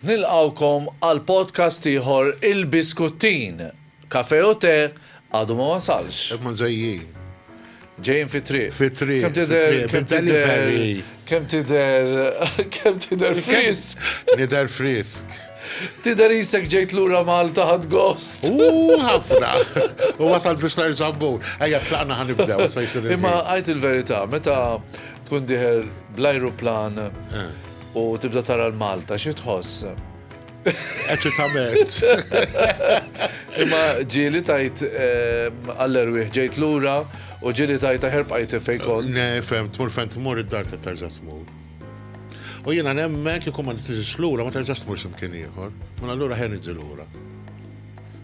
Nilqgħukom għal podcast ieħor Il-Biskuttin. Kafè u te għadu ma wasalx. Imma ġejjin. Ġejjin fit-triq. Fit-triq. Kemm tidher kemm tidher kemm tidher kemm tidher frisk. Nidher frisk. Tidher isek ġejt lura Malta ħad gost. U ħafna. U wasal biex nerġa' mmur. Ejja tlaqna ħanibdew se jsir. Imma għid il-verità, meta Tkun dieħel bl-ajruplan u tibda tara l-Malta, xi tħoss? Eċitament. Imma ġieli tajt ehm, għall-erwieħ ġejt lura u ġieli tajt aħer bqajt fejn kont. Ne, fem, tmur fejn tmur id-dar ta' terġa' tmur. U jiena nemmen kieku ma tiġix lura ma terġax tmur x'imkien ieħor. Mela allura ħen iġi lura.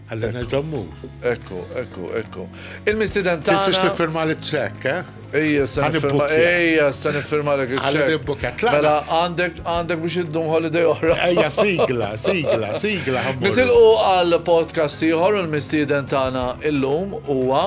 Għalli nil-ġammur. Ekku, ekku, ekku. Il-mistiden ta' Tistix tifirma li ċek, eh? Ija, sa' nifirma, ija, sa' nifirma li ċek. Għalli nibbuket, la. Mela, għandek, għandek biex id-dum holiday oħra. Ija, sigla, sigla, sigla. Nitilqu għal podcast iħor, il-mistiden ta' il-lum, uwa.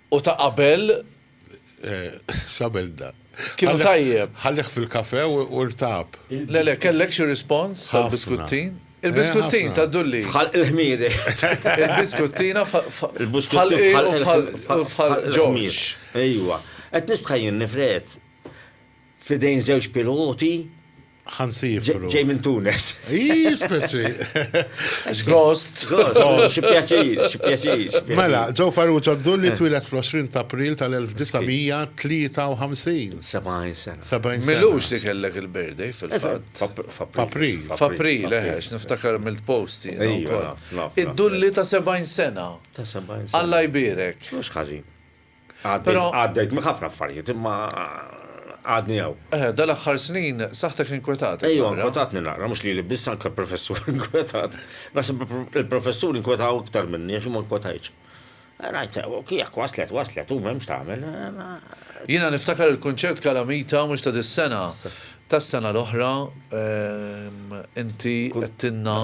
U ta' qabel? X'għamilt dan? Kienu tajjeb. Ħallieh fil-kafè u rtab. Le le, kellek xi rispons tal-biskuttin? Il-biskuttin ta' Dulli. F'ħalq il-ħmiri. Il-biskuttina f'ħalq il-ħmiri. Ejwa. Qed nistħajjilni Fred. f'idejn żewġ piloti ġej minn Tunes. Ii, speċi. Ghost. Ghost, xi pjaċir, xi pjaċir. Mela, ġew Farrugia Dulli eh. twilet fl-20 ta' April tal-1953. 70 sena. 70 Milux li kellek il-birthday fil-fatt. F'April. F'April, eħex, eh, niftakar mill-posti. Id-Dulli ta' 70 sena. Ta' 70 sena. Alla jbirek. Mhux ħażin. Għaddejt minn ħafna affarijiet imma għadni hawn. Eħe, dal-aħħar snin saħħtek inkwetatek. Ejja, inkwetatni naqra, mhux lili biss anke l-professur inkwetat. Naħseb il-professur inkwetaw iktar minni għax ma nkwetajtx. Rajt, kiek waslet, waslet, u m'hemmx tagħmel. Jiena niftakar il-kunċert Kalamita mhux ta' dis-sena, tas-sena l-oħra, inti għedtilna.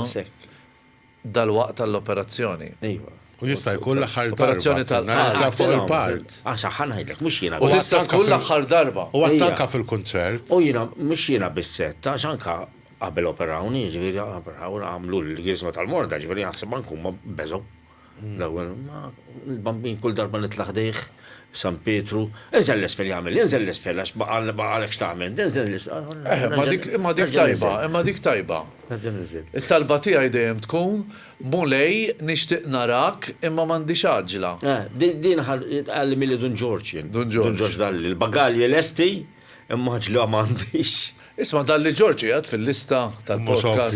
Dalwaqt għall-operazzjoni. Iva. U jista' jkun l-aħħar darba. Operazzjoni tal-park. Tlaq fuq il-park. Ah, saħħa ħa ngħidlek, mhux jiena biss. U tista' tkun l-aħħar darba. U għadt anke fil-kunċert. U jiena, mhux jiena biss għedt, għax anke qabel operawni, jiġifieri operawni, għamlu l-Griżma tal-Morda, jiġifieri naħseb anke huma beżgħu. L-ewwel, ma l-Bambin kull darba nitla' ħdejh, San Pietru, inżel l-isfel jagħmel, inżel l-isfel għax baqgħalek x'tagħmel, inżel l-isfel. Imma dik tajba, imma dik tajba. Nerġa' ninżel. It-talba tiegħi dejjem tkun, Mulej, nixtieq narak, imma m'għandix għaġġla. Eh, din tgħallimilha Dun Ġorġ jien. Dun Ġorġ. Dun Ġorġ dalli, il-bagalji lesti, imma għaġġla m'għandix. Isma' dalli Ġorġ qiegħed fil-lista tal-podcast.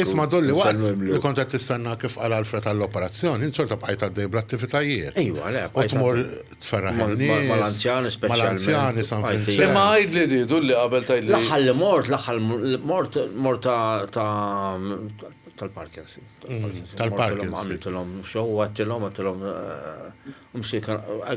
Isma' dalli waqt li kont qed tistenna kif qal Alfred għall-operazzjoni, int xorta bqajt għaddej bl-attivitajiet. Ejwa, le, bqajt. U tmur tferraħ in-nies. Mal-anzjani speċjalment. Mal-anzjani San Vinċenz. Imma għidli di, du li qabel tgħidli. L-aħħar li mort, l-aħħar mort, mort ta' tal-Parkinson. Tal-Parkinson. Għamiltilhom xow, għattilhom, għattilhom.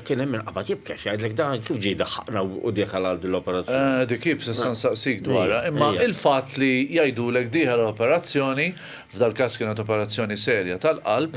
Kien hemm minn qabad jibkex, għidlek dan kif ġej daħħaqna u dik għal l-operazzjoni. Dik jib se san saqsik dwarha, imma il-fatt li jgħidulek diħa l-operazzjoni, f'dal-każ kienet operazzjoni serja tal-qalb,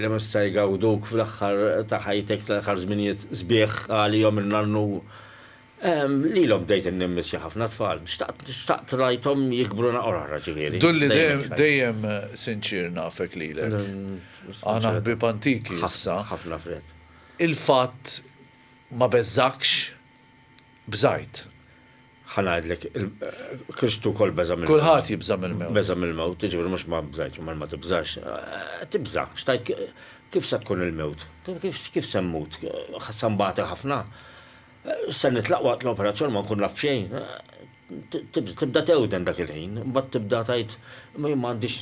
li mista' jgawduk fl-aħħar ta' ħajtek tal-aħħar żminijiet sbieħ għalihom in-nannu. Lilhom bdejt innimmissja ħafna tfal. Xtaqt rajthom jikbru naqra oħra ġifieri. Dulli dejjem sinċier nafek lilek. Aħna ħbieb antiki issa. Ħafna fred. Il-fatt ma beżgħakx? bżajt. Ħa ngħidlek, Kristu wkoll beża' mill-mewt. Kulħadd jibża' mill-mewt. Beża' mill-mewt, jiġifieri mhux ma bżajtx u ma tibżax. Eh, tibża', xtajt kif se tkun il-mewt? Kif se mmut? Ħa se nbati ħafna? Eh, se nitlaq waqt l-operazzjoni ma nkun naf xejn? Eh, Tibda tewden dak il-ħin, imbagħad tibda tgħid ma jien ma għandix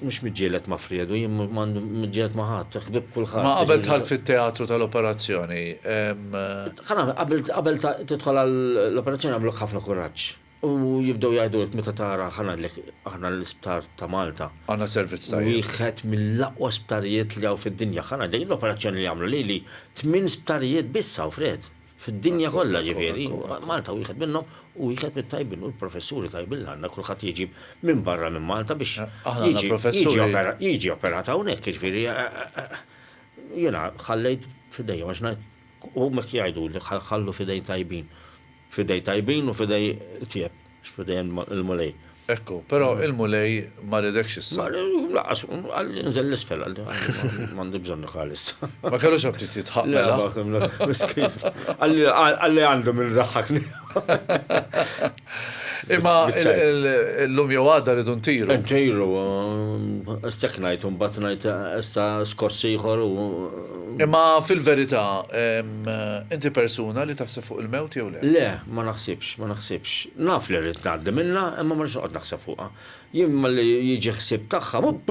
mhux miġġieled ma' Friedu, jien m'għandi miġġieled ma' ħadd, ħbieb kulħadd. Ma qabel dħalt fit-teatru tal-operazzjoni hemm. Ħa nagħmel, qabel qabel tidħol għall-operazzjoni jagħmlulek ħafna kuraġġ u jibdew jgħidulek meta tara ħa ngħidlek aħna l-isptar ta' Malta. Għandna servizz tajjeb. Wieħed mill-aqwa sptarijiet li hawn fid-dinja. Ħa ngħidlek l-operazzjoni li għamlu lili tmien sptarijiet biss hawn Fried. Fid-dinja kollha ġifieri, Malta wieħed minnhom, u wieħed mit-tajbin u l-professuri tajbin li għandna, kulħadd jiġi minn barra minn Malta biex jiġi operat hawnhekk, jiġifieri jiena ħallejt f'idejhom għax ngħid huma hekk jgħiduli, ħallu f'idejn tajbin, f'idejn tajbin u f'idejn itjieb. X'pretend il-Mulej? Ekku, però il-Mulej ma riedekx issa. Ma laqqas, qal li nżel l-isfel għal m'għandi bżonn nħal issa. Ma kellux aptit jitħaq mela. Għalli għandu minn daħħakni. Imma l-lum jew għada rridu ntiru. Ntiru, s-seknajt, un batnajt, issa skors ieħor u Imma fil-verità, inti persuna li taħseb fuq il-mewt jew le? Le, ma naħsibx, ma naħsibx. Naf li rrid ngħaddi minnha, imma ma rridx noqgħod naħseb fuqha. Jien malli jiġi ħsieb tagħha, wupp,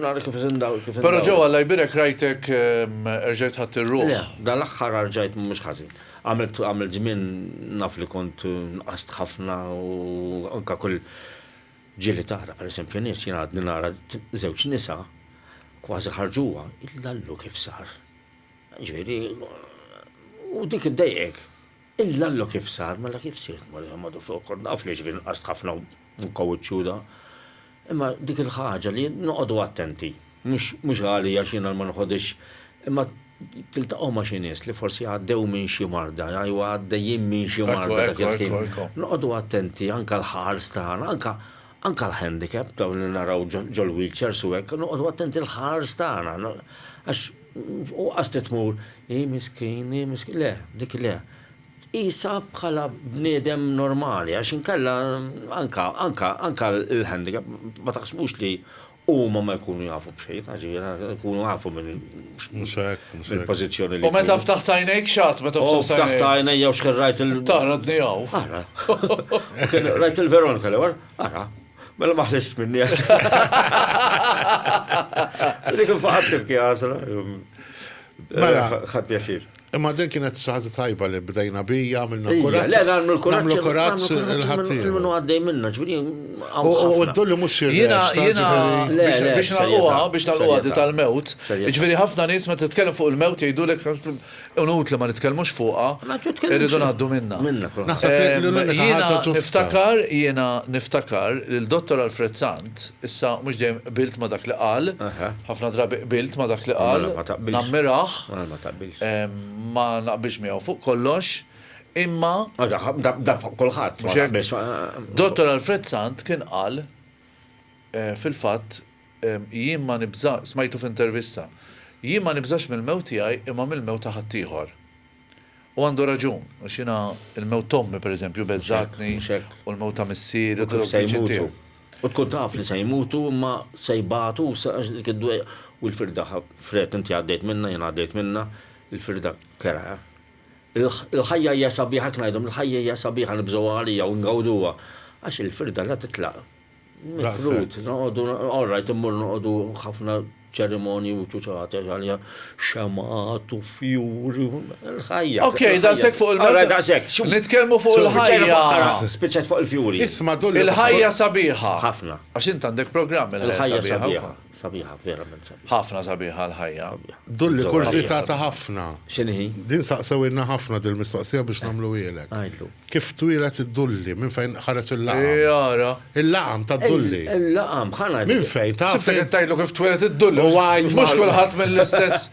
nara kif indaw, kif indaw. Però Joe, Alla jbierek rajtek erġajt ħadt ir-ruħ. Le, dan l-aħħar arġajt mhux ħażin. Għamilt għamilt żmien naf li kont nqast ħafna u anke kull Ġieli tara pereżempju nies, jien għadni nara żewġ nisa kważi ħarġuha, il-lallu kif sar. Jiġifieri u dik iddejjqek. Il-lallu kif sar, mela kif sirt Marija Madu fuq kont naf li jiġifieri nqast ħafna u nkawwid ċuda. Imma dik il-ħaġa li noqogħdu attenti. Mhux ghali ghax jiena ma nħodhx imma tiltaqgħu ma' xi nies li forsi għaddew minn xi marda, jew għaddejjin minn xi marda dak il-ħin. Noqogħdu attenti anke l-ħars tagħna, anke anke l-handicap dawn li naraw ġol-wheelchairs u hekk, noqogħdu attenti l-ħars tagħna. Għax u qas li tmur, hi miskin, hi miskin, le, dik le. Qisha bħala bniedem normali għax inkella anke anke anke l-handicap ma taħsbux li Huma ma jkunu jafu b'xejn, għaxira, jkunu jafu minn. Mhux hekk, mhux hekk. Il-pożizzjoni li. U meta ftaħt għajnejk xat, meta ftaħt. U ftaħt għajnejk jew xkien rajt il. Tara dnijaw. Ara. Rajt il-Veronika li war, ara. Mela ma ħlist minni għas. Dik il-faħat tibki għasra. Mela. Ħad pjaċir. Imma din kienet xi ħaġa tajba li bdejna bija, għamilna kuraġġ. Le, nagħmlu l-kuraġġ. Nagħmlu kuraġġ il-ħaddieħor. Minn għaddej minna, ġifieri. U d-dulli mhux xi Jiena jiena biex nagħlquha biex nagħlquha di tal-mewt. Ġifieri ħafna nies meta titkellem fuq il-mewt jgħidulek unut li ma nitkellmux fuqha. Irridu ngħaddu minnha. Jiena niftakar jiena niftakar lil Dottor Alfred Zan Int issa mhux dejjem qbilt ma' dak li qal, ħafna drabi qbilt ma' dak li qal, nammirah, ma naqbilx miegħu fuq kollox, imma. Dan fuq kulħadd. Dottor Alfred Sant kien qal, fil-fatt, jien ma nibża, smajtu f'intervista, jien ma nibżax mill-mewt tiegħi imma mill-mewt ta' ħaddieħor. U għandu raġun, għax jiena l-mewt t'ommi, per eżempju, beżgħatni, u l-mewt ta' missieri u ta' żewġ viċin tiegħi. U tkun taf li se jmutu, imma se jbatu, u l-firda, Fred, inti għaddejt minnha, jiena għaddejt minnha, il-firda kerha. Il-ħajja hija sabiħa, hekk ngħidhom, il-ħajja hija sabiħa nibżgħuha għalija u ngawduha, għax il-firda la titlaq, Mifrud, noqogħdu, all right, immur noqogħdu ħafna ċerimonji u ċuċata ġalja xemgħat u fjuri u l-ħajja. Ok, daqshekk fuq il-meta. Daqshekk, xum. Nitkellmu fuq il-ħajja. Spiċċat fuq il-fjuri. Isma' dulli. Il-ħajja sabiħa. Ħafna. Għax int għandek programm il-ħajja sabiħa. Sabiħa, verament sabiħa. Ħafna sabiħa l-ħajja. Dulli kursi ta' ta' ħafna. Xinħi? Din saqsew inna ħafna dil-mistoqsija biex namlu għilek. Għajdu. Kif twilet id-dulli minn fejn ħareġ il-laqam? Jara. Il-laqam ta' dulli. Il-laqam, ħana. Minn fejn ta' fejn? Sibtek tajlu kif twilet id-dulli. Mux kullħat mill-istess.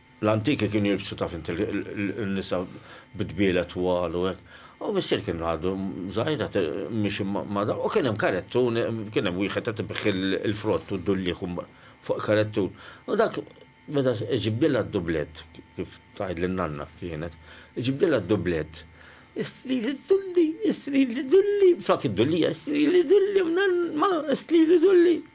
L-antiki kienu jilbsu taf int in-nisa bi dbiela twal u hekk. U missier kien għadu żgħir qed miexi ma' da u kien hemm karettun, kien hemm wieħed qed ibigħ il-frott u d-dulliħ fuq karettun. U dak meta iġibdilha d-dublett, kif tgħidli n-nanna kienet, iġibdilha d-dublett, Istrili d-dulli, istrili d-dulli, flok id-dullija, istrili d-dulli, mnann, ma, istrili d-dulli.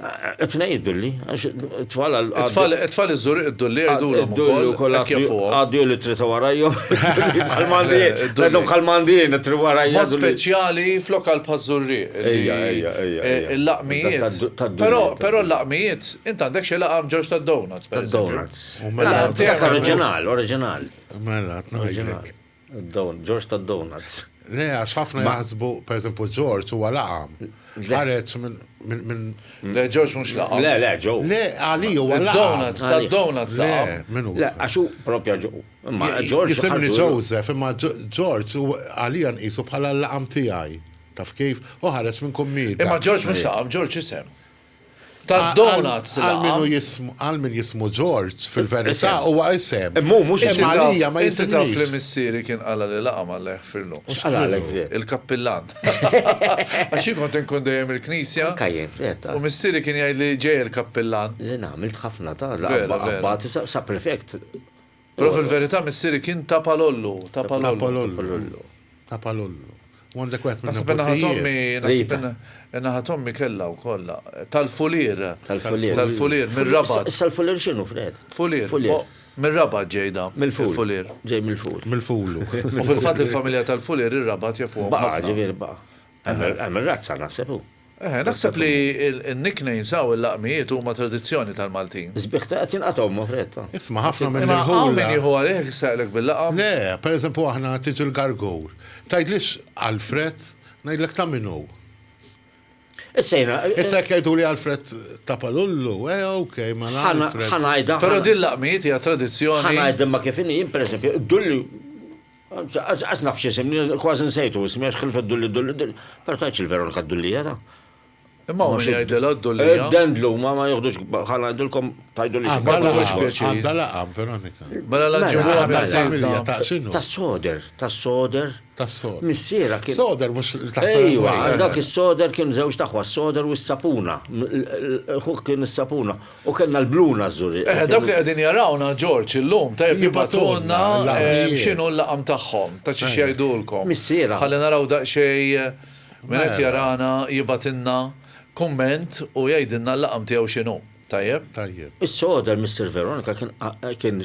Qed ngħid dulli, għax it-tfal għal. It-tfal it-tfal iżżur id-dulli jgħidulhom ukoll ukoll hekk jafuhom. Għaddu li trid warajhom. Kalmandi, għadhom kalmandi li trid warajhom. Mod speċjali f'lokal bħaż-żurri. Ejja, ejja, ejja. Il-laqmijiet. Però però l-laqmijiet, int għandek xi laqam ġewx tad-donuts. Tad-donuts. Oriġinal, oriġinal. Mela, oriġinal. Ġorġ ta' donuts. Le, għax ħafna jaħsbu, per eżempju, Ġorġ huwa laqam. Ħareġ minn. Le, Ġorġ mhux laqam. Le, le, ġo. Le, għali huwa laqam. Donuts, ta' donuts laqam. Minu. Le, għax hu propja ġo. Ma Ġorġ. Jisimni Joseph, imma Ġorġ għali nqisu bħala l-laqam tiegħi. Taf kif? U ħareġ minn kummida. Imma Ġorġ mhux laqam, Ġorġ isem. Tad-donuts Għal min hu jismu, għal min jismu Ġorġ, fil-verità huwa isem. Imma hu mhux isem. Imma għalija ma jisimniex. Inti taf li missieri kien qala' li laqam Alla jeħfirlu. U x'qalalek f'din? Il-kappillan. Għax jien kont inkun dejjem il-knisja. Anke jien, f'din. U missieri kien jgħidli ġej il-kappillan. Jien għamilt ħafna ta' laqam ma' qabbati sa' prefect. Però fil-verità missieri kien ta' Palollu, ta' Palollu. Ta' Palollu. U għandek wieħed minn Naħseb in-naħa t'ommi, naħseb in-naħa t'ommi kellha wkoll. Tal-Fulier. Tal-Fulier. Tal-Fulier, mir-Rabat. Issa l-Fulier x'inhu, Fred? Fulier. Fulier. Mir-Rabat ġej da. Mill-Fulier. Ġej mill-Ful. Mill-Fulu. U fil-fatt il-familja tal-Fulier ir-Rabat jafuhom ħafna. Baqa' ġifieri baqa'. Hemm ir-razza naħseb hu. Eħe, naħseb li n-nicknames hawn il-laqmijiet huma tradizzjoni tal-Maltin. Is-sbieħ ta' qed jinqatgħu ma' fretta. Isma' ħafna minn irħula. Imma hawn min jieħu għalih jissaqlek bil-laqam? Le, per eżempju aħna tiġi l-gargur. Tgħidlix Alfred, ngħidlek ta' min hu. Issa jiena. Issa jekk jgħiduli Alfred ta' Palullu, eh ok, mela Alfred. Ħa ngħidha. Però din l-laqmijiet hija tradizzjoni. Ħa ngħidha ma' kif inhi, jien per eżempju, id-dulli. Qas naf x'isem, kważi nsejtu ismi għax ħilfet Dulli Dulli, però tgħidx il-Veronika d-Dullija ta'. Imma hawn min jgħidilha d-Dullija. Id-dendlu, ma jieħdux, ħa ngħidilkom, tgħidulix. Għandha laqam Veronika. Mela la ġibuha missiera. Tas-soder, tas-soder. Tas-soder. Missiera kien. Soder mhux tas-soder. Ejwa, dak is-soder kien żewġt aħwa, s-soder u s-sapuna. Ħuh kien is-sapuna. U kellna l-blu nażżuri. Eħe, dawk li qegħdin jarawna, Ġorġ, illum, tajjeb jibgħatulna x'inhu l-laqam tagħhom, ta' xiex jgħidulkom. Missiera. Ħalli naraw daqsxejn min qed jarana jibgħatilna kumment u jgħidilna l-laqam tiegħu x'inhu. Tajjeb? Tajjeb. Is-soda l-Missier Veronika kien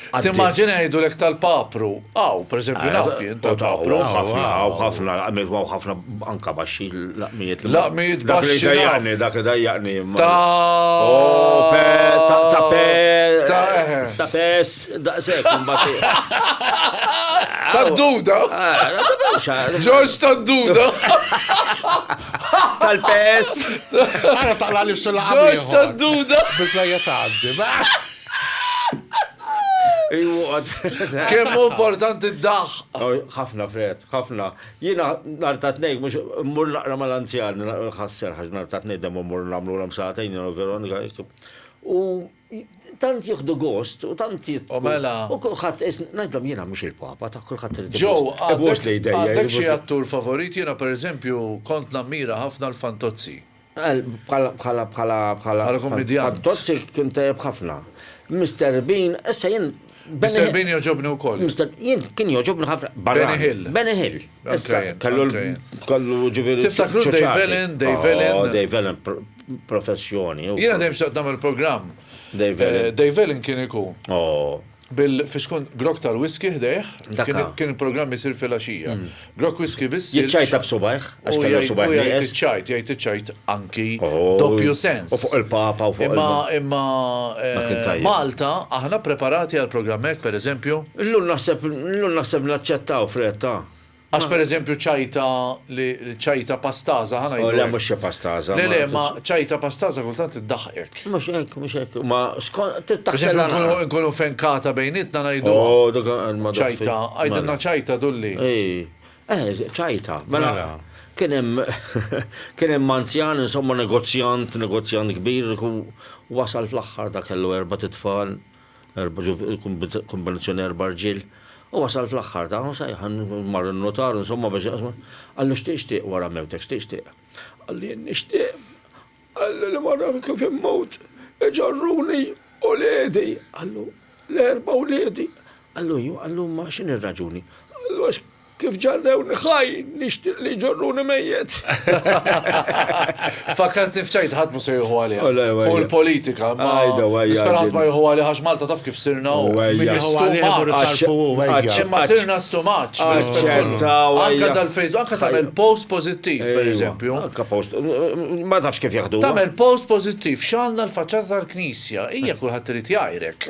Timmaġina jgħidulek tal-papru. Aw, pereżempju, eh, naf jien tal-papru. Ħafna, ħafna, ħafna anka baxxi laqmijiet. Laqmijiet baxxi. Dak dajjaqni, dak dajjaqni. Ta' oh, ta' pe. Ta' eh. pes, da' sekk, Ta' duda. Eh, George ta' duda. Tal-pes. Għara taqla li s-sulaqa. George ta' duda. Bizzajet għaddi, Kemm importanti d-daħ! ħafna fred, ħafna. Jina nar ta' tnejn, mux mur naqra mal-anzjan, ħasser ħax nar ta' tnejn demmu mur namlu l-am saħtajn, jina Veronika. U tant jihdu gost, u tant jittu. U mela. U kullħat, najdlom jina mux il-papa, ta' kullħat rridu. Ġow, għabbux li jdejja. Għabbux li attur favorit, jina per eżempju, kont nammira ħafna l-fantozzi. Bħala, bħala, bħala, bħala. Bħala kummedjant. Bħal Tozzi kien tajjeb ħafna. Mr. Bean, issa jien Mr. Bean joġobni u koll. Mr. Jien kien joġobni ħafna. Benny Hill. Benny Hill. Issa, kallu kallu ġiviri. Tiftakru Dave Allen, Dave Allen. Oh, Dave Allen, professjoni. Jena dejjem xtaqt namel program. Dave Allen. Eh, Dave Allen kien ikun. Oh. Bil-fiskont grok tal-whisky ħdejh, kien il-programm isir fil-axija. Mm. Grok whisky biss. Jitċajta b'subajħ, għax kellu subajħ. Jgħid iċċajt, jgħid iċċajt anki oh, doppju sens. U fuq il-papa u fuq il Imma imma eh, Malta aħna preparati għal programmek, per eżempju. Illum naħseb, illum naħseb naċċettaw fretta. Għax pereżempju ċajta li ċajta pastaża ħa ngħidu. Oh, le mhux xi pastaża. Le le, ma ċajta pastaża kultant iddaħqek. Mhux hekk, mhux hekk. Ma taħsel nkunu fenkata bejnietna ngħidu. Oh, ċajta, għajdilna ċajta dulli. Eh, ċajta. Mela. mela. Kien hemm kien hemm anzjan insomma negozjant, negozjant kbir wasal fl-aħħar ta' kellu erba' titfal. kombinazzjoni erba' rġiel. U wasal fl-aħħar ta' u sejħa mar in-nutar insomma biex jaqsmu. Qallu x'tieq x'tieq wara mewtek x'tieq x'tieq. Qal jien nixtieq qalli li wara kif immut iġorruni uliedi. Qallu l-erba' wliedi. Qallu ju, qallu imma x'inhi r-raġuni? Qallu għax Kif ġarrewni ħaj, nixtieq li jġorruni mejjet. Fakkart nifċajt ħadd mu se jieħu għalih. Oh, Fuq il-politika, ma nispera ħadd ma jieħu għalih għax Malta taf kif sirna u ma sirna stumaċ. Anka tal-Facebook, anka tagħmel post pożittiv, pereżempju. Anka post, ma tafx kif jaħdu. Tagħmel post pożittiv, x'għandna l-faċċata tal-knisja, hija kulħadd irid jgħajrek.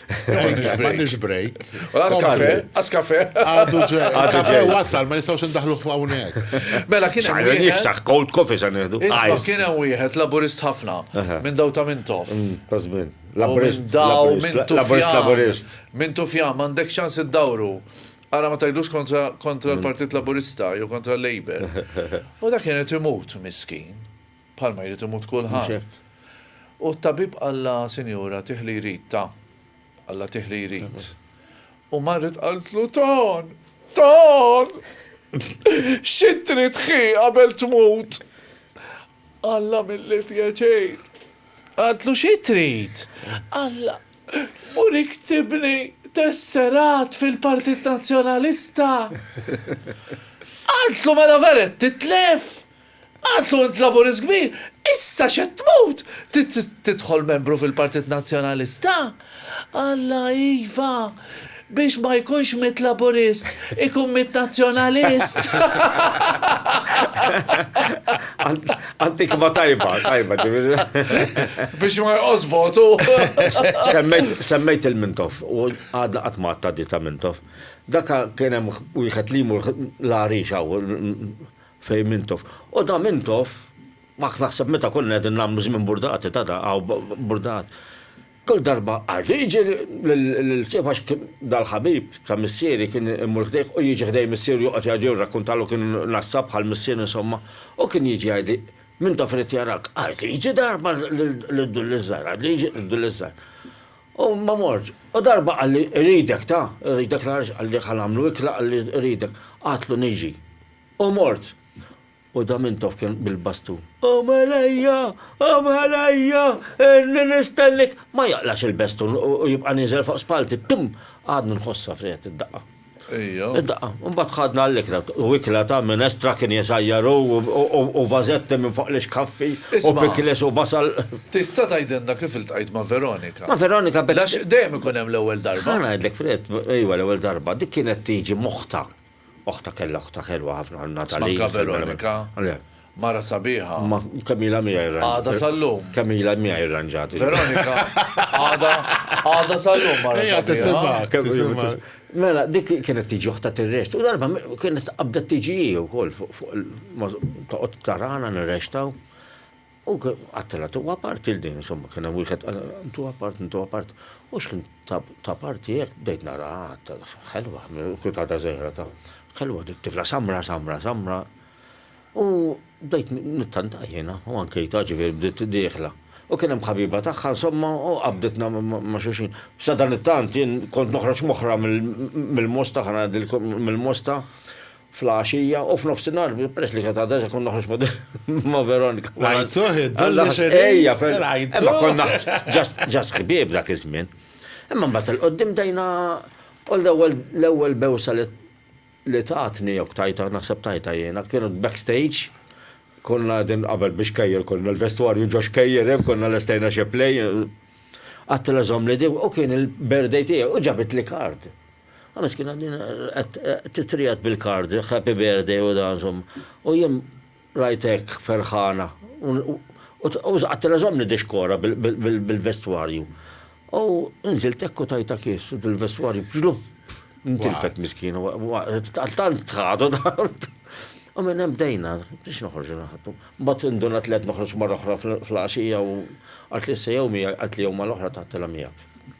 M'għandix break. Askafe, askafe. Għadu ġej. Għadu ġej. Wasal, ma nistgħux indaħlu f'hawnhekk. Mela kien hemm. Xajra nifsaħ cold coffee sa nieħdu. Isma' kien hemm wieħed laburist ħafna minn daw ta' Mintof. Mm, Tażmin. Laburist. Daw minn Laburist laburist. Minn Tufjan m'għandek ċans iddawru. Għara ma tajdux kontra mm. l-Partit Laburista jew kontra l-Labor. U dak kienet imut miskin. Bħalma jrid imut kulħadd. U t-tabib qallha, Sinjura, tih li jrid, ta. Qallha tih li jrid. U marret qaltlu, Ton! Ton! Xi trid ħi qabel tmut? Alla milli pjaċir. Qaltlu, Xi trid? Alla, urik tibni tesserat fil-Partit Nazzjonalista. Qaltlu, Mela veret titlef? Qatlu int Laburist kbir, issa x'qed tmut tidħol membru fil-Partit Nazzjonalista? Alla iva, biex ma jkunx mitt Laburist, ikun mitt Nazzjonalist. Antikma tajba, tajba. Biex ma jqos votu. Semmejt il-Mintoff, u għadna qatt ma ta' Mintoff. Daka kien hemm wieħed li jmur l-għarix Fejn Mintoff. U da Mintoff, mak naħseb meta konna qegħdin nagħmlu żmien burdati ta' da, hawn burdat. Kull darba għardu jiġi lil sieħbu għax kien dal-ħabib ta' missieri kien imur ħdejh u jiġi ħdej missieru joqgħod jgħidu jirrakkuntalu kien nassab bħal missier insomma u kien jiġi jgħidli Mintoff irid jarak, għardu jiġi darba lid-dulli ż-żgħir, għardu jiġi lid-dulli ż-żgħir. U ma morġ. U darba qalli ridek ta, ridek nagħrix qalli ħa nagħmlu ikla qalli ridek. Għadtlu niġi. O mort! U Damintof kien bil-bastun. O Malajja! O Malajja! Inni nistennik! Ma jaqlax il-bestun u jibqa' nieżel fuq spallti. Tim! Għadni nħossha friegħet id-daqqa. Ejja. Id-daqqa. Imbagħad ħadna għall-ikla. U ikla ta' minestra kien jesajjar hu u vażetti minn fuq l-ixkaffi u pickles u basal. Tista' tgħidilna kif iltqajt ma' Veronika? Ma' Veronika b'hekk. Għax dejjem ikun hemm l-ewwel darba. Ħa ngħidlek friegħet, ejwa l-ewwel darba. Dik kienet tiġi m'oħtha. Oħtha kellha oħtha ħelwa ħafna, Natalie. Smanka Veronika. Le. Mara sabiħa. Ma kemm ilha miegħi rranġati. Għadha sal-lum. Kemm ilha miegħi rranġati. Veronika. Għadha għadha sal-lum mara sabiħa. Tisimgħek, tisimgħek. Mela, dik kienet tiġi oħta tirrest. U darba kienet qabdet tiġi u kol fuq il-toqgħod tarana nirrextaw. U qattela tu apart il din, insomma, kien hemm wieħed tu apart, tu apart. U x'kien ta' parti hekk bdejt nara ħelwa, kulkata żejra ta' ħelwa dik tifla samra, samra, samra. U bdejt nittanta jiena u ankejta ġifieri bdiet dieħla. U kien hemm ħabiba tagħha insomma u qabditna ma' xulxin. Sadanittant jien kont noħroġ moħħra mill-mosta, ħa ngħidilkom mill-mosta, fl-għaxija u f'nofsinhar, peress li kienet għadha kont noħroġ ma' Veronika. Lajtuh id-dolli xejja fil Imma konna ġas ħbieb dak iż-żmien. Imma mbagħad il-qoddim dejna u l-ewwel bewsa li tatni jok tajta naħseb tajta jiena kienu backstage konna din qabel biex kejjer konna l-vestwarju ġox kejjer hemm konna l-estajna xi play għattila żomm li u kien il-birthday tiegħi u ġabit li kard. Għaliex kien għaddin titrijat bil-kard, happy birthday u dan zom. U jien rajtek ferħana. U għattela zomni dixkora bil-vestwarju. U nżilt ekku tajta kiss u dil-vestwarju bġlu. Ntilfet miskin. Tant tħadu tant. U minn hemm bdejna, biex noħorġu naħdu. Bat indunat li qed noħroġ marra oħra fl-għaxija u għalt li s-sejjew miegħi għalt li jew mal-oħra taħtela miegħek.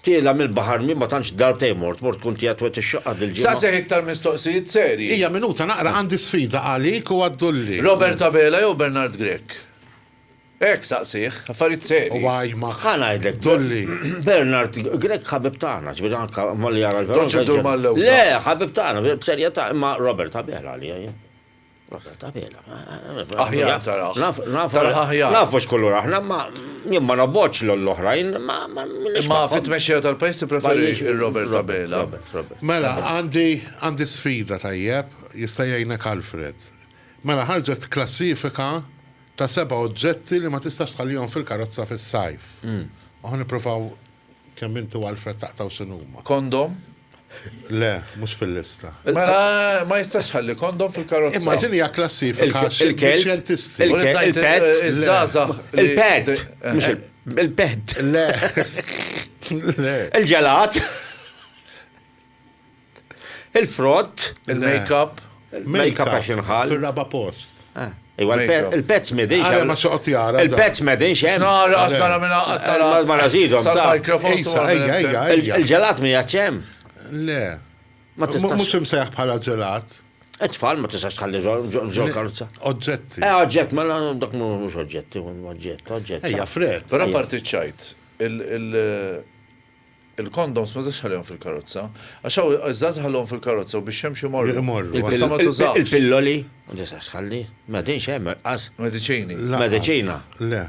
Tiela' mill-baħar min ma tantx darb tgħin mort, mort tkun tiegħek twett ix-xaqqa dil-ġimgħa. Saqsih iktar mistoqsijiet serji. Hija minuta naqra għandi sfida għalik u għad-dulli. Robert Abela jew Bernard Grech? Hekk saqsih, affarijiet serji. Huwa jmaħħ. Ħa ngħidlek, dulli. Bernard Grech ħabib tagħna, ġifieri anke malli jara l-Verona. Toqgħodx iddur mal-lewża. Le, ħabib tagħna, b'serjetà, imma Robert Abela għalija jien. Aħjar taraħ. Taraħ aħjar. Nafu x'kulur aħna, ma jien ma nobboċ l-oħrajn, ma Ma fit-tmexxija tal-pajjiż preferi il-Robert Abela. Mela, għandi sfida tajjeb, jista' jgħinek Alfred. Mela ħarġet klassifika ta' seba' oġġetti li ma tistax tħallihom fil-karozza fis-sajf. U ħa nippruvaw Kemm inti u Alfred taqtgħu sinuma? Kondom? Le, mhux fil-lista. Ma jistax ħalli kondom fil-karozza. Imma din hija klassifika xjentisti. Il-pet, iż-żgħażagħ. Il-pet, il-pet. Le. Il-ġelat. Il-frott, il-make-up, il-make-up għax inħal. Fil-raba post. Eh, iwa, il-pezz medin. Għara ma xoqt jara. Il-pezz medin xem. Nara, għastara minna, għastara. Eh, ma razidom. Sal-mikrofon. Il-ġelat mi għacċem. Le. Ma tistax. Mux imseħ bħala ġelat. Etfall ma tistax tħalli ġol karza. Oġġetti. Eh, oġġett, ma dak mux oġġetti, oġġett, oġġett. Ejja, fred. Però parti ċajt, il- Il-kondoms ma tistax tħallihom fil-karozza. Għax hawn iż-żgħażagħ ħalluhom fil-karozza u biex jemxu jmorru. Imorru. Imma sa ma tużahx. Il-pilloli ma tistax tħalli. Ma tinx hemm irqas. Mediċini. Lanqas. Mediċina. Le.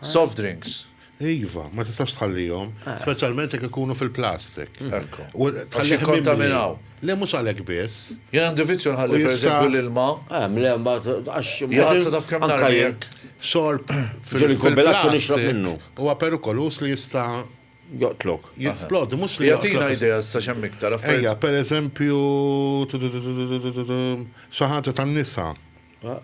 Soft drinks. Iva, ma tistax tħallihom, speċjalment jekk ikunu fil-plastik. Ekku. U Għax tħallih mimli. jikkontaminaw. Le mhux għalhekk biss. Jien għandi vizzju nħalli U jista- pereżempju l-ilma. Hemm le mbagħad għax Jaqsa taf kemm anka narmi jien. jekk. Xorb Ġieli fil- kubilazzu nixrob fil-plastik minnu. huwa perikoluż li jista' Joqtlok. Jisplodi, mhux li joqtlok. Jagħtina idea issa x'hemm iktar affarijiet. Ejja, pereżempju, xi ħaġa tan-nisa.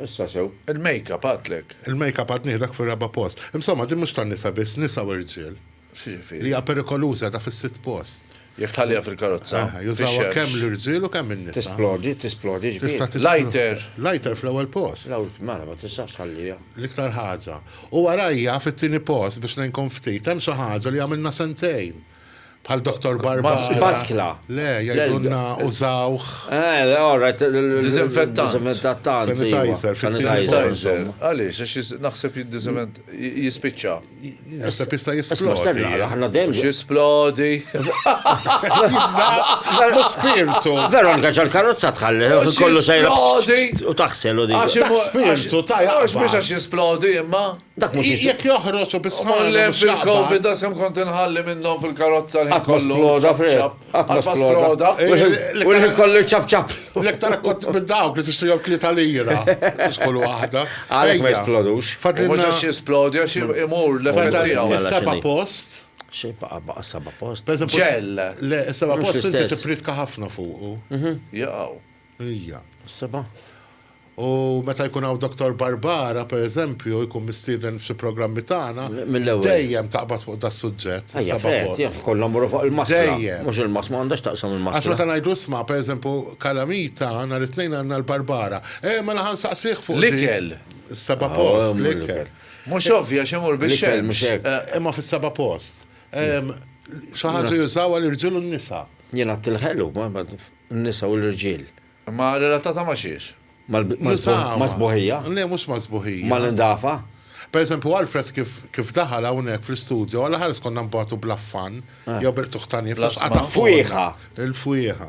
Issa sew. Il-makeup għadtlek. Il-makeup għad nieħdak fir-raba' post. Insomma, din mhux tan-nisa biss, nisa u rġiel. Li hija perikoluża qiegħda fis-sitt post. Jekk tħalliha fil-karozza. Jużawha kemm l-irġiel u kemm in-nisa. Tisplodi, tisplodi. Lighter. Lighter fl-ewwel post. Mela, ma tistax tħalliha. L-iktar ħaġa. U warajja, fit-tieni post, biex ngħinkom ftit, hemm xi ħaġa li għamilna sentejn, bħal Dottor Barbara. Baskla. Le, jgħidulna użawh. Eh, all right. Diżinfettant. Diżinfettant. Sanitizer. Sanitizer. Għaliex, għax naħseb jiddiżinfett, jispiċċa. Naħseb jista' jispiċċa. Aħna dejjem. Splodi. Veru spirtu. Veru anka ġal karozza tħalli, kollu sejra. U taħsel u dik. Dak spirtu ta' jaqba. Għax biex għax jisplodi imma. Dak mux jisplodi. Jek joħroċ u bisħan. Għalle fil-Covid da sem kont nħalli minnom fil-karozza li kollu. Sploda, freb. Għatma sploda. U li kollu ċap ċap. L-ektar kont bid-dawk li t-istu jom klita lira. Skollu għahda. Għalek ma jisplodux. Fadli mux jisplodi għax imur l-effetti għaw. Seba post. Xej baqa baqa saba post. Ġell, le, saba post inti tipritka ħafna fuqu. Mhm. Jaw. Ija. Saba. U meta jkun hawn Dr. Barbara, per eżempju, jkun mistieden f'xi programmi tagħna, dejjem taqbad fuq da suġġett. Saba post. Kollhom muru fuq il-maskla. Dejjem. Mhux il-maskla, ma għandax taqsam il-maskla. Għax meta ngħidu isma' per eżempju kalamita nhar it-tnejn għandna l-Barbara. Eh, mela ħansaqsih fuq. L-ikel. Saba post, l-ikel. Mhux ovvja għax imur bix-xemx. Eh, imma fis-seba' post. Xi ħaġa jużaw għal irġiel u n-nisa. Jiena tilħelu, n-nisa u l-irġiel. Ma relatata ma xiex? Ma sbuħija? Le, mhux ma sbuħija. Ma l-indafa? Per eżempju, Alfred kif daħal hawnhekk fl-istudio, għal ħares konna nbatu bl-affan, eh. jew bil-tuħtani fl-affan. Fwieħa. Il-fwieħa.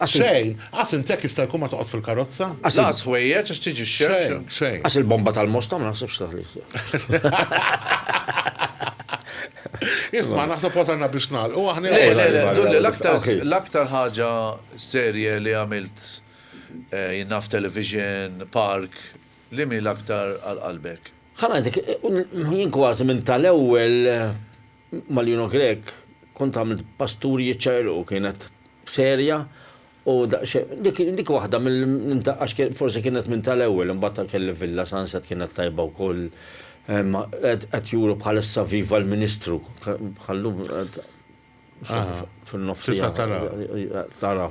Għax il- Xejn! Għax int hekk jista' jkun ma toqgħodx fil-karozza? Għax il- Lanqas ħwejjeġ għax tiġi x-xemx. Xejn, xejn. Għax il-bomba tal-Mosta ma naħsibx taħlik. Isma' naħseb wasalna biex nagħlqu aħna. Le, le, le, dur li l-aktar Ok. l-aktar ħaġa serje li għamilt eh, jien naf television, park, li mi l-aktar għal qalbek? Ħa ngħidlek, jien kważi minn tal-ewwel Malino Grech, kont għamilt pasturi jiċċaqilqu, kienet serja u daqsxejn, dik waħda minn ta' għax forsi kienet minn tal-ewwel, imbagħad kelli Villa Sunset kienet tajba wkoll, qed juru bħalissa viva l-Ministru, bħal-lum qed. fin-nofs. Tista' tara. Tara.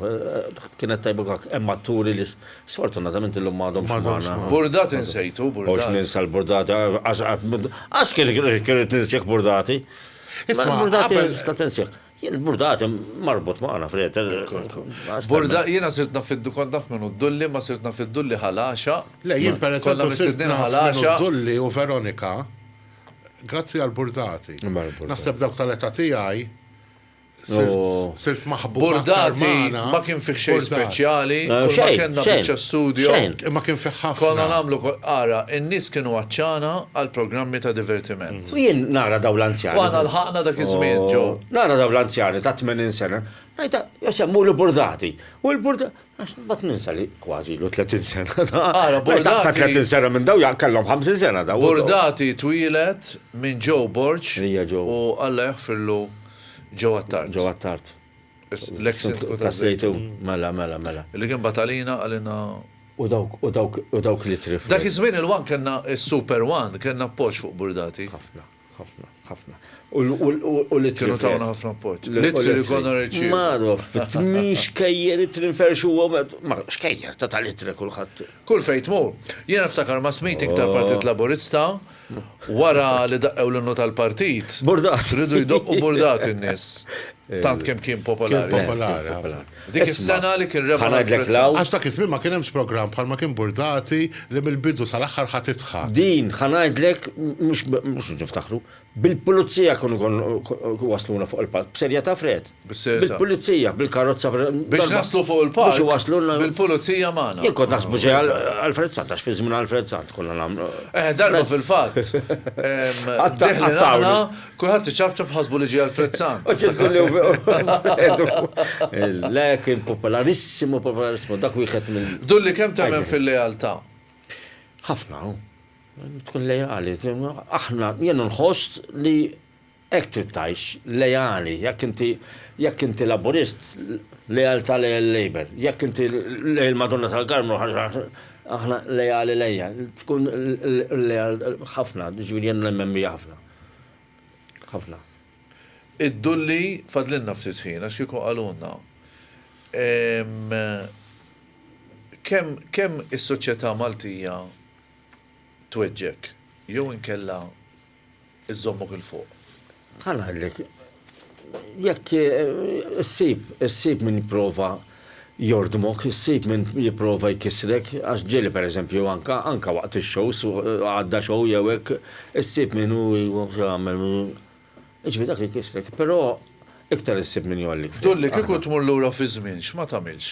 Kienet tajba għak, hemm atturi li sfortunatament illum m'għadhom magħna. Burdati nsejtu, burdati. Għax ninsa l-burdati, għax kien irid ninsjek burdati. Isma' burdati tista' tinsjek. Jien burdati marbut magħna fred. Burdati jiena sirt naf fiddu kont naf minn Dulli, ma sirt naf fid-Dulli ħalaxa. Le jien pereżempju sirt naf ħalaxa. Dulli u Veronika grazzi għall-burdati. Naħseb dawk tal-età tiegħi Sirt maħbub. Bordati ma kien fih xejn speċjali, kull ma kellna biċċa studio. Ma kien fih ħafna. Konna nagħmlu ara, in-nies kienu għatxana għal programmi ta' divertiment. U jien nara dawn l-anzjani. Aħna lħaqna dak iż-żmien, Joe. Nara dawn l-anzjani ta' 80 sena, ngħidha, Josè, mur il-Bordati. U l-Bordati, Għax mbagħad ninsa li kważi ilu 30 sena da. Ara, Bordati. Ta' 30 sena minn daw kellhom 50 sena daw. Bordati twilet minn Joe Borċ. Hija Joe. U Alla jaħfirlu Joe Attard. Joe Attard. L-ex sindku ta' Sejtu. Mela, mela, mela. Li kien batalina għalina. U dawk, u dawk, u dawk li trif. Dak iż-żmien il-wan kellna s-Super One, kellna appoġġ fuq Bordati. Ħafna. Ħafna, ħafna. U li Kienu tawna ħafna appoġġ. Li li konna reċi. Maruf, tmix kejjer it-trinfer xu għomet. Ma, xkejjer, ta' tal-itre kullħat. Kull fejt mu. Jena ftakar ma' smitik tal-Partit oh. Laburista wara li daqqew l-innu tal-partit. Burdat. Ridu jdoqqu burdat in-nis. Tant kem kien popolari. Popolari. Dik is-sena li kien rebaħ għal Fred Sala. Għax dak iż-żmien ma kien hemmx programm bħal ma kien Burdati li mill-bidu sal-aħħar ħa tidħak. Din ħa ngħidlek mhux niftaħru. Bil-pulizija kienu wasluna fuq il-palk. B'serjetà Fred? Bis-serjetà. Bil-pulizija, bil-karozza. Biex naslu fuq il-palk. Biex waslulna. Bil-pulizija magħna. Jien kont naħsbu ġej għal Fred Sant, għax fi żmien għal Fred Sant konna nagħmlu. Eh, darba fil-fatt. Għattawna. Kulħadd iċapċap ħasbu li ġie Alfred San. U ċedillu f'edu. Le, kien popolarissimo, popolarissimo, dak wieħed minn. Dulli kemm temmen fil-lealtà? Ħafna, tkun leali. Aħna, jien nħoss li hekk trid tgħix, leali, jekk inti jekk inti laburist, lealtà lej il-Labour, jekk inti lej il-Madonna tal-Karmu, aħna leali lejja, tkun leal ħafna, ġifieri jien nemmen ħafna. ħafna. Iddulli fadlilna ftit ħin għax kieku qalulna kemm kemm is-soċjetà Maltija tweġġgħek jew inkella żżommok 'il fuq. Bħal ngħidlek, Jekk issib, issib min jipprova jordmok, issib min jipprova jkissrek, għax ġieli pereżempju anke, anke waqt ix-shows, għadda show jew hekk, issib min hu jagħmel, jiġifieri dak ikissrek. Però iktar issib min jgħollik. Dulli, kieku tmur lura fiż-żmien, x'ma tagħmilx?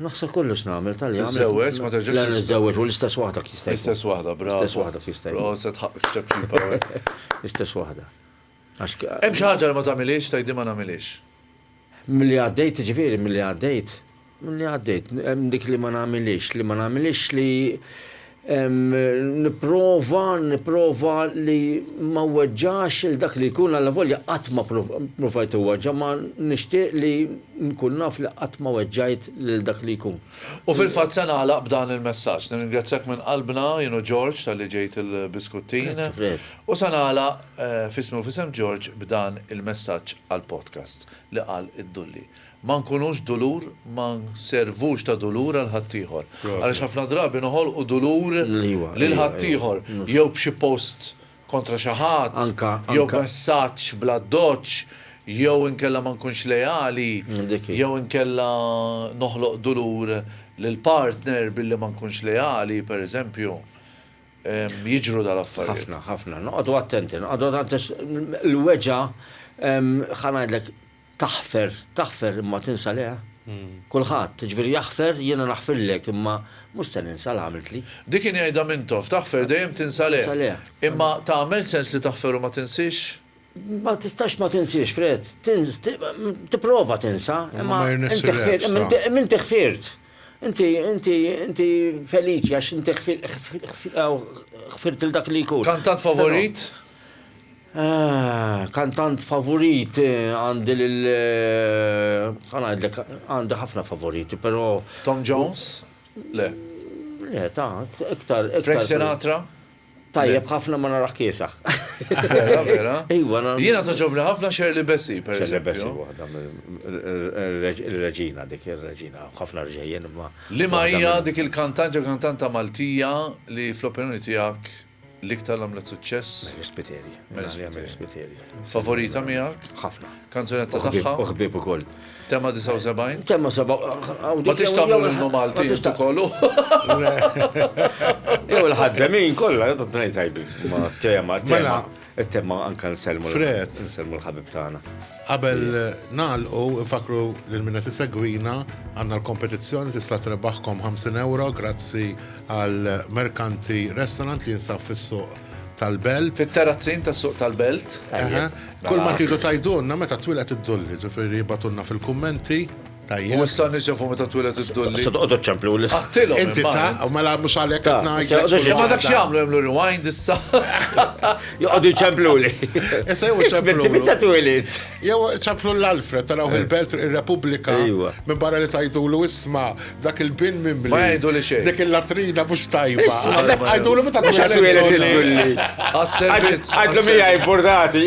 Naħseb kollox nagħmel tal-li għamilt. Tiżżewweġ, ma terġax. Le niżżewweġ u l-istess waħda jista' jkun. L-istess waħda, bravo. L-istess waħda jista' jkun. Proset ħaqqek ċapċipa. L-istess waħda. Hemm xi ħaġa li ma tagħmilhiex tgħidli ma nagħmilhiex? Milli għaddejt, jiġifieri milli għaddejt, milli għaddejt, hemm dik li ma nagħmilhiex, li ma nagħmilhiex li Nipprova, nipprova li ma nweġġax lil dak li jkun allavolja qatt ma ppruvajt inweġġa' ma nixtieq li nkun naf li qatt ma weġġajt lil dak li jkun. U fil-fatt se nagħlaq b'dan il-messaġġ. Nirringrazzjak minn qalbna, jien u George, talli ġejt il-biskuttin. Grazzi Fred. U se nagħlaq, f'ismi u f'isem George, b'dan il-messaġġ għall-podcast li qal id-Dulli. Ma nkunux dulur, ma nservux ta' dulur għal ħaddieħor. Għaliex ħafna drabi noħolqu dulur lil ħaddieħor, jew b'xi post kontra xi ħadd, jew b'messaġġ bl-addoċċ, jew inkella ma nkunx leali, jew inkella noħloq dulur lill-partner billi ma nkunx leali, pereżempju. Jiġru dal-affarijiet. Ħafna, ħafna. Noqogħdu attenti, noqogħdu attenti għax il-weġgħa, ħa ngħidlek, Taħfer, taħfer imma tinsa le? Kulħadd, jiġifieri jaħfer, jiena naħfirlek imma mhux se ninsa l-għamiltli. Dik kien jgħidha Mintoff, taħfer dejjem tinsa le. Imma tagħmel sens li taħfer u ma tinsiex? Ma tistax ma tinsiex, Fred. Tipprova tinsa, imma inti ħfirt. Inti, inti, inti feliċi għax inti ħfirt il-dak li jkun. Kantant favorit? Ahh, kantant favorit, għandi lil, xa ngħidlek, għandi ħafna favoriti, però. Tom Jones? Le. Le, ta, iktar, iktar. Frank Sinatra? Tajjeb ħafna ma narah kiesaħ. Vera, vera. Iwa, na. Jiena togħġobni ħafna Shirley Bassey, per eżempju. Shirley Bassey waħda mill-reġina dik, ir-reġina, ħafna rġejjien imma. Liema hija dik il-kantant jew kantanta Maltija li fl-opinjoni tiegħek. L-iktar għamlet suċċess? Mary Spiteri. Mela, hija Mary Spiteri. Favorita miegħek? Ħafna. Kanzunetta tagħha? U ħbieb ukoll. Tema 79? Tema 79. Ma tix tagħmlu l-innu Malti intu kollu. Jew l-ħaddemin kollha, jgħidu tnejn tajbi. Ma tema, tema. Mela, It-tebma anke nsellmu Fred. nsellmu l-ħabib tagħna. Qabel nagħlqu nfakkru lil min qed isegwina għandna l-kompetizzjoni tista' trebaħkom 50 ewro grazzi għal Mercanti Restaurant li jinsab fis-Suq tal-Belt. Fit-Terrazzin tas-Suq tal-Belt. Eħe. Kull ma tridu tgħidulna meta twieled id-dulli, ġifieri ibgħatulna fil-kummenti. U issa n-nies jafu meta twiled id-dulli. Se toqgħodu ċemplu li. Qattilhom. Inti ta' u mela mhux għalhekk qed ngħid. Imma dak x'jagħmlu jagħmlu rewind issa. Joqogħdu ċemplu li. Issa jew ċemplu. Meta twiled. Jew ċemplu l-Alfred taraw eh. il-Belt ir-Repubblika. Minn barra li tajdulu isma' dak il-bin mimli. Ma jgħidu li xejn. Dik il-latrina mhux tajba. Isma' għajdulu meta twiled id-dulli. Għas-servizz. Għadlu mija jburdati.